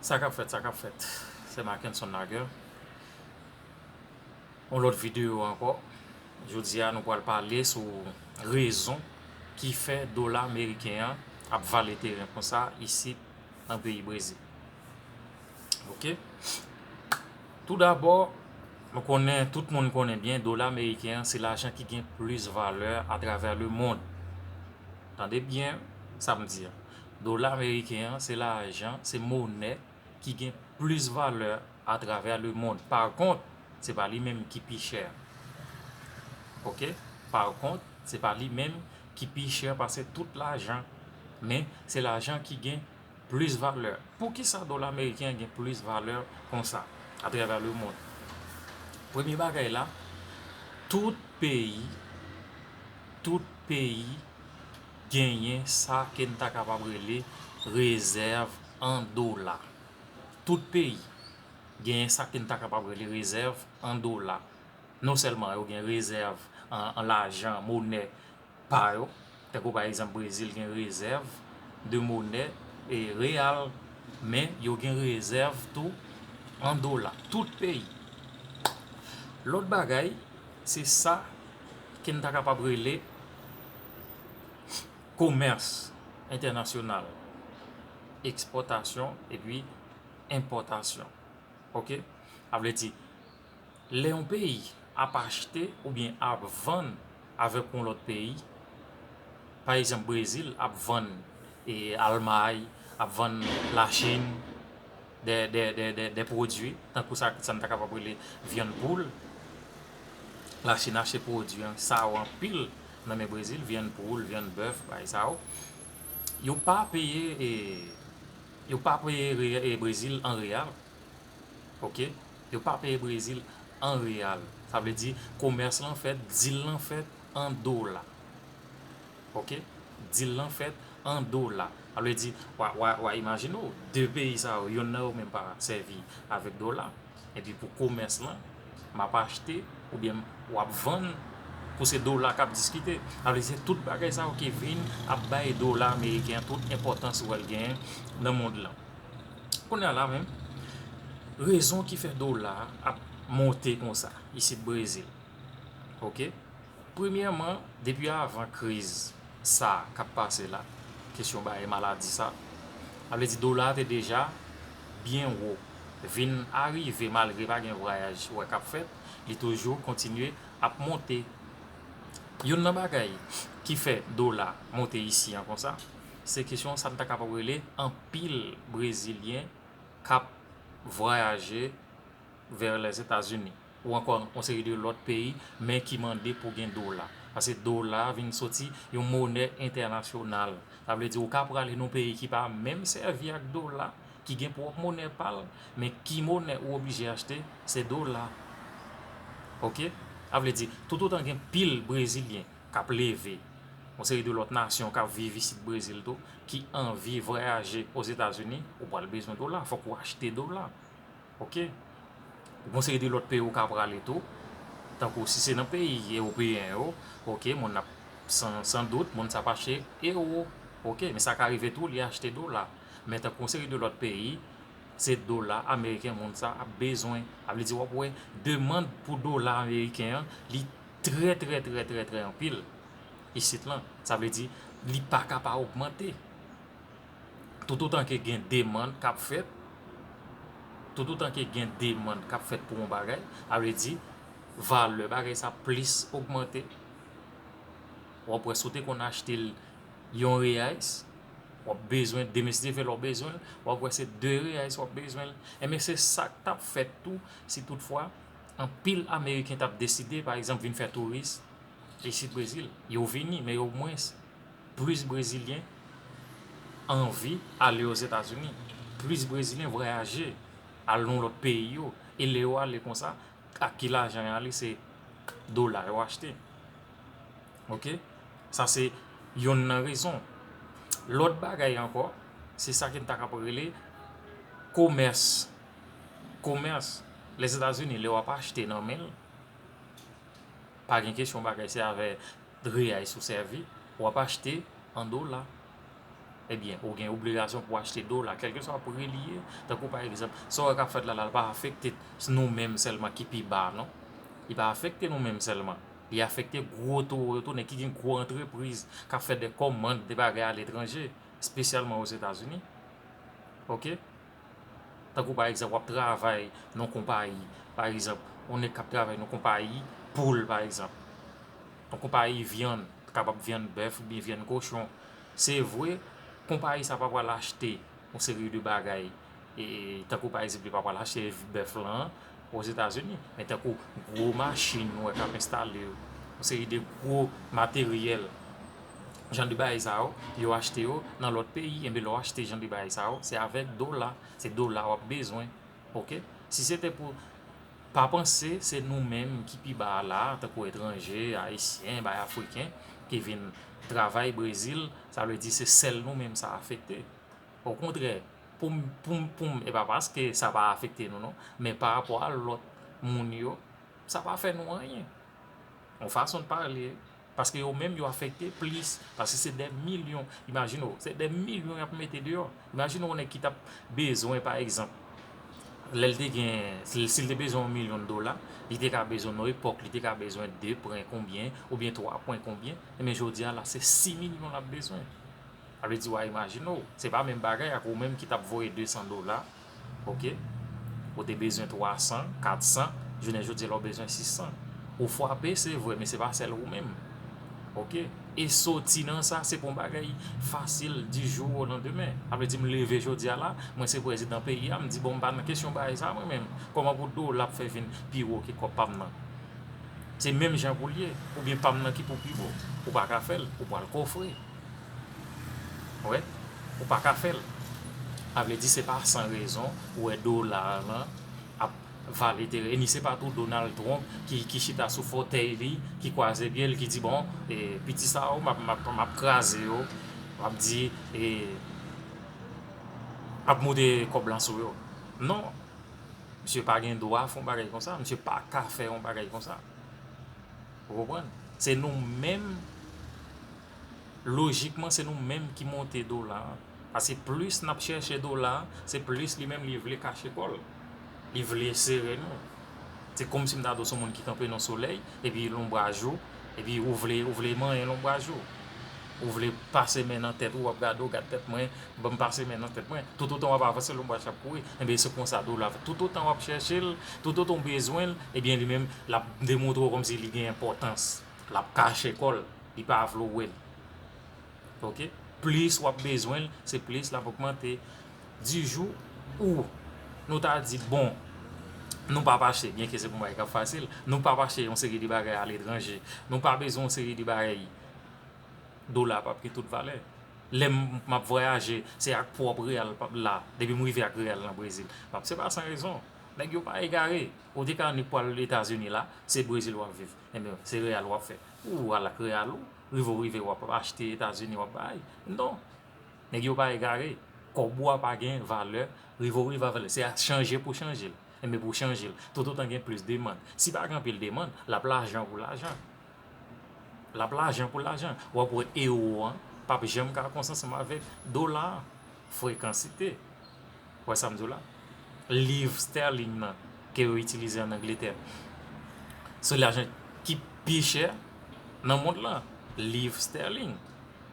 Sa kap fèt sa kap fèt se Mackenson Naguer yon lòt video ankò jodi a nou pral pale sou rezon ki fè dola meriken an ap vale teren konsa isi nan peyi brezil ok tou dabò nou konnen tout moun konnen byen dola meriken an se lajan ki gen plis valè atravè le mond tande byen sa m di a Dola meriken an se lajan, se monè ki gen plis valè atravè lemond. Pa kont, se pa li menm ki pi chè. Ok? Pa kont, se pa li menm ki pi chè pase tout lajan. Men, se lajan ki gen plis valè. Poukisa dola meriken an gen plis valè konsa atravè lemond? Premye bagay la, tout peyi, tout peyi. genyen sa ke n ta kapab rele rezèv an dola. Tout peyi genyen sa ke n ta kapab rele rezèv an dola. Non sèlman yo gen rezèv an lajan, monè pa yo, tankou pa egzanp Brezil gen rezèv de monè e reyal, men yo gen rezèv tou an dola. Tout peyi. Lòt bagay, se sa ke n ta kapab rele. komès entènasyonal, ekspòtasyon epi enpòtasyon. Ok, sa vle di lè yon peyi ap achte oubyen ap vann avèk yon lòt peyi, pa egzanp Brezil ap vann e Almay, ap vann Lachin dè pwodui tankou sa n ta kapab rele vyann poul, Lachin achte pwodui an, sa yo anpil nan men brezil vyann poul vyann bèf bagay sa yo yo pa peye e yo pa peye e brezil an real ok yo pa peye brezil an real sa vle di komès lan fèt dil lan fèt an dola ok dil lan fèt an dola sa vle di wa imajine w 2 peyi sa yo yonn nan yo menm pa sèvi avèk dola Epi pou komès lan map achte oubyen wap vann pou se dola kap diskite. Sa vle di se tout bagay sa yo ki vin ap bay dola ameriken an tout enpòtans ou wèl genyen nan mond lan. Kounye a la menm rezon ki fè dola ap monte konsa isit Brezil ok. Premyèman, depi avan kriz sa k ap pase la, kesyon barye maladi sa, sa vle di dola a te deja byen wo, vin arive malgre pa gen vwayaj wè k ap fèt, li toujou kontinye ap monte. Youn nan bagay ki fè dola monte isi an konsa, se kesyon sa n ta kapab rele anpil brezilyen k ap vwayaje vè Lèzetazini. ou ankò yon seri de lòt peyi men ki mande pou gen dola paske dola vin soti yon monè entènasyonal sa vle di ou ka prale nan yon peyi ki pa menm sèvi ak dola ki gen pwòp monè pa l men ki monè ou oblije achte se dola ok sa vle di toutotan gen pil brezilyen k ap leve yon seri de lòt nasyon k ap viv isit brezil tou ki anvi vwayaje ozetazini ou pral bezwen dola fòk ou achte dola. Ok Gon seri de lòt peyi ou ka prale tou Tankou si se nan peyi ewopeyen yo ok moun nan San dout moun sa pa achte ewo ok men sa ka rive tou li achte dola Men tankou yon seri de lòt peyi Se dola ameriken moun sa ap bezwen A vle di wap wè demand pou dola ameriken an li trè trè trè trè trè anpil Isit lan Sa vle di li paka pa ogmante Toutotan ke gen demand k ap fèt, toutotan ke gen demand k ap fèt pou yon bagay, sa vle di, valè bagay sa plis ogmante. W ap wè si w te konn achte l yon reyais, w ap bezwen demestive lè w bezwen l, w ap wè se de reyais w ap bezwen l. Enben se sa k t ap fèt tou si tout fwa anpil ameriken t ap deside pa egzanp vin fè touris isit Brezil. Yo vini men yo mwens. Plis Brezilyen anvi ale Ozetazini, plis Brezilyen vwayaje al nan lòt peyi yo, e lè yo ale konsa, ak ki lajan yo ale, se dola yo achte. Ok, sa se yonn nan rezon. Lòt bagay ankò, se sa ke n ta kapab rele komès. Komès, Lèzetazini lè w ap achte nan men l, Pa gen kesyon bagay se avè reais ou sèvi, wap achte an dola ebyen ou gen obligasyon pou achte dola kèlkeswa pri li ye, tankou pa egzanp sa wè kap fèt la li pa afekte nou menm sèlman ki pi ba non, li pa afekte nou menm sèlman li afekte gwo towo yo tou nèg ki gen gwo antrepriz kap fè de kòmand de bagay aletranje espesyalman ozetazini ok. Tankou pa egzanp wap travay nan yon konpayi, pa egzanp yon nèg kap travay nan yon konpayi poul pa egzanp, yon konpayi vyann, kapab vyann bèf oubyen vyann kochon, se vre konpayi sa pa pral achte yon seri de bagay tankou pa egzanp li pa pral achte bèf lan, Ozetazini, men tankou gwo machin nou wè k ap enstale yo, yon seri de gwo materyèl, jan de bagay sa yo, yo achte yo nan lòt peyi, enben lè w achte jan de bagay sa yo, se avèk dola, se dola w ap bezwen, ok, si se te pou, pa panse se nou menm ki pi ba a la a, tankou etranje, ayisyen, bay afriken, ki vin travay Brezil, sa vle di se sèl nou menm sa afekte. Okontrè, pou m, pou m, pou m, e pa paske sa pa afekte nou non, men parapò a lòt moun yo, sa pa fè nou anyen. Yon fason de pale, paske yo menm yo afekte plis, paske se dè milyon, imajine w, se dè milyon y ap mete deyò. Imajine w yon nèg ki t ap bezwen pa egzanp, lè l te gen, si l te bezwen yon milyon dola, li te ka bezwen nan epòk, li te ka bezwen de pwen konbyen, oubyen twa pwen konbyen, men jodi a la se si milyon l ap bezwen. Sa vle di wa imajine w, se pa menm bagay ak ou menm ki tap voye 200 dola ok, ou te bezwen 300, 400, jounen jodi a la ou bezwen 600. Ou fwape se vre men se pa sèl ou menm ok, e soti nan sa se pa yon bagay fasil di jou o landemen. Sa vle di m leve jodi a la, mwen se prezidan peyi a, m di bon m pa nan kesyon bagay sa mwen menm, kòman pou dola ap fè vin pi wo ke kòb pa m nan? Se menm jan pou l ye, oubyen pa m nan ki pou pi wo, ou pa ka fè l, ou pwal kofre. Wè ou pa ka fèl. A vle di se pa san rezon ou wè dolar lan ap vale teren e ni se pa tou Donald Trump ki chita sou fòtèy li ki kwaze pyel ki di bon piti sa yo map kraze yo map di map moute kòb lan sou yo non misye pa gen dwa fon bagay konsa misye pa ka fè yon bagay konsa ou konprann se nou menm lojikman se nou menm ki monte dola an paske plis nap chèche dola an se plis li menm li vle kache kòl li vle sere nou se komsi m ta di w son moun ki kanpe nan solèy epi lonbraj ou epi ou vle ou vle manyen lonbraj ou ou vle pase men nan tèt ou wap gade w gade tèt mwen banm pase men nan tèt mwen toutotan wap avanse lonbraj la ap kouri enben se konsa dola toutotan wap chèche l toutotan w bezwen l ebyen li menm lap demontre w komsi li gen enpòtans. lap kache kòl li pa vle w wèl ok plis wap bezwen l se plis lap ogmante di jou ou nou ta di bon nou pap achte byen ke se pou bagay kap fasil nou pap achte yon seri de bagay aletranje nou pa bezwen yon seri de bagay dola pap gen tout valè lè map vwayaje se ak pwòp reyal pap la depi m rive ak reyal nan brezil se pa san rezon nèg yo pa egare ou te ka annik pwal etazini la se brezil wap viv Ebyen se real wap fè Ou al ak real ou Rive ou rive wap achte etazini wap bay Non Nèg yo pa egare Kòb ou a pa gen valè Rive ou rive avèl se ak chanje pou chanjel Ebyen pou chanjel Toutotan gen plis demand Si pa gen anpil demand Lap lajan pou lajan Lap lajan pou lajan Wap wè ewo an Pap janm ka konsanm avèk dola an Frekansite Ou wè sa m di w la? Liv sterling nan ke yo itilize an Angletè se lajan ki pi chè nan mond la. Liv sterling.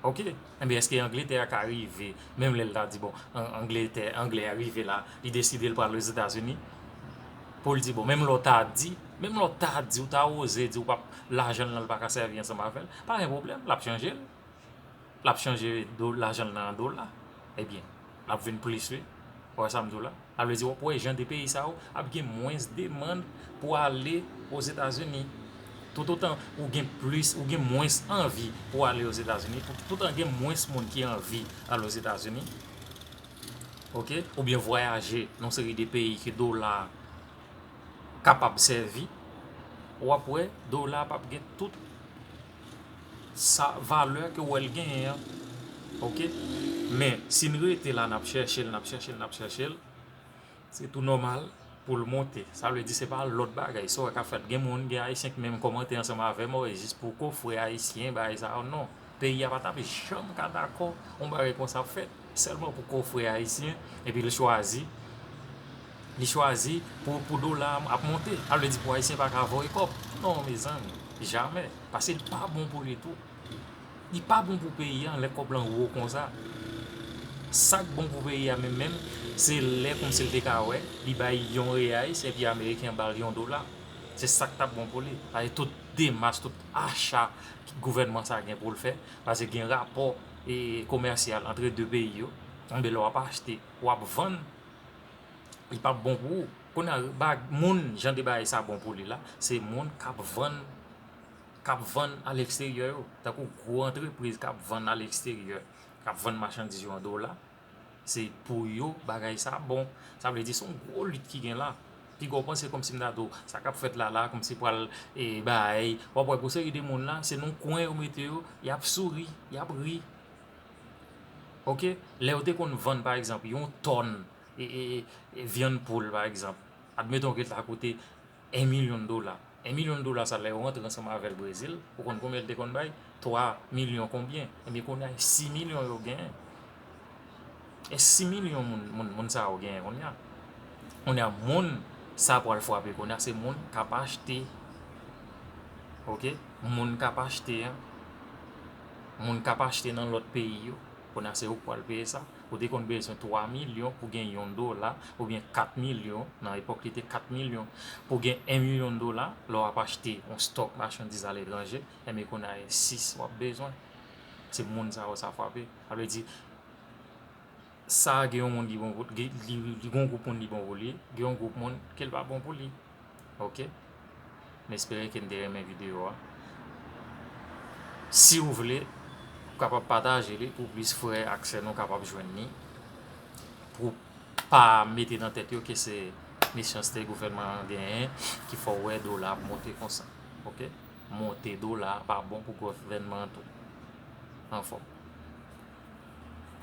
Ok. Enben eske Angletè ka rive menm lè l ta di bon Angletè, Anglè a rive la li deside l pral Ozetazini pou l di bon menm lè w ta di, menm lè w ta di, w ta oze di w pap lajan l lan l pa ka sèvi ansanm avè l pa gen pwoblèm l ap chanje l. lap chanje lajanl nan an dola ebyen lap vin plis wi ou wè sam diw la sa vle di wap wè jan 2 peyi sa yo ap gen mwens demand pou ale ozetazini tout otan ou gen plis ou gen mwens anvi pou ale ozetazini tout otan gen mwens moun ki anvi al ozetazini ok oubyen vwayaje nan seri de peyi ke dola kapab sèvi wap wè dola pap gen tout sa valè ke ou wèl genyen an ok men sin rete la nap chèchel nap chèchel nap chèchel se tou nòmal poul monte sa vle di se pa lòt bagay sa ou wè kap fèt gen moun gen ayisyen ki menm kòmante ansanm avèm oh jis pou kofre ayisyen bagay sa yo non peyi a patap janm ka dakò yon bagay konsa ap fèt Sèlman pou kofre ayisyen epi li chwazi li chwazi pou dola a ap monte sa vle di pou ayisyen pa ka voye kòb non mezanmi jamè pase li pa bon pou li tou li pa bon pou peyi an lè kòb lan wo konsa sak bon pou peyi an menm menm se lè kòmsi li te ka wè li bay yon reyais epi ameriken bal yon dola se sak tap bon pou li pase tout demas tout acha gouvènman sa gen pou l fè pase gen rapò komèsyal antre 2 peyi yo, enben lè wap achte, wap vann, li pap bon pou ou. Kounye a ba moun jan de bagay sa bon pou li la, se moun kap vann, kap vann a leksteryè yo. Tankou gwo antrepriz kap vann a leksteryè, kap vann machandiz yo an dola, Se pou yo bagay sa bon. Sa vle di son gwo lit ki gen la. Piga w panse kòmsi m ta di w sa k ap fèt la la kòmsi pral e bay. W ap wè gwo seri de moun la se nan yon kwen yo mete yo, y ap souri, y ap ri. Ok, lè yo te konn vann pa egzanp yon tòn e vyann poul pa egzanp, admeton ke l ta koute. 1 milyon dola 1 milyon dola sa lè yo rantre ansanm avèl brezil ou konn konbyen li te konn bay 3 milyon konbyen ebyen kounya 6 milyon yo genyen e 6 milyon moun moun sa yo genyen kounya kounya moun sa pral fwape kounya se moun kap achte ok moun kap achte moun kap achte nan lòt peyi yo kounya se yo k pral peye sa. Ou te konn bezwen 3 milyon pou gen yon dola, oubyen 4 milyon, nan epòk li te 4 milyon, pou gen 1 milyon dola, lè w ap achte yon stòk machandiz aletranje, enben kounye a e 6 w ap bezwen. Se moun sa yo sa fwape. Sa vle di, sa gen yon moun ki bon pou li, gen yon gwoup moun li bon pou li, gen yon gwoup moun ke li pa bon pou li. ok m espere ke n te renmen video a si ou vle ou kapab pataje li pou plis frè ak sè nou kapab jwenn ni pou pa mete nan tèt yo ke se mechanste gouvènman an genyen ki fè w wè dola ap monte konsa ok monte dola pa bon pou gouvènman an tou anfòm.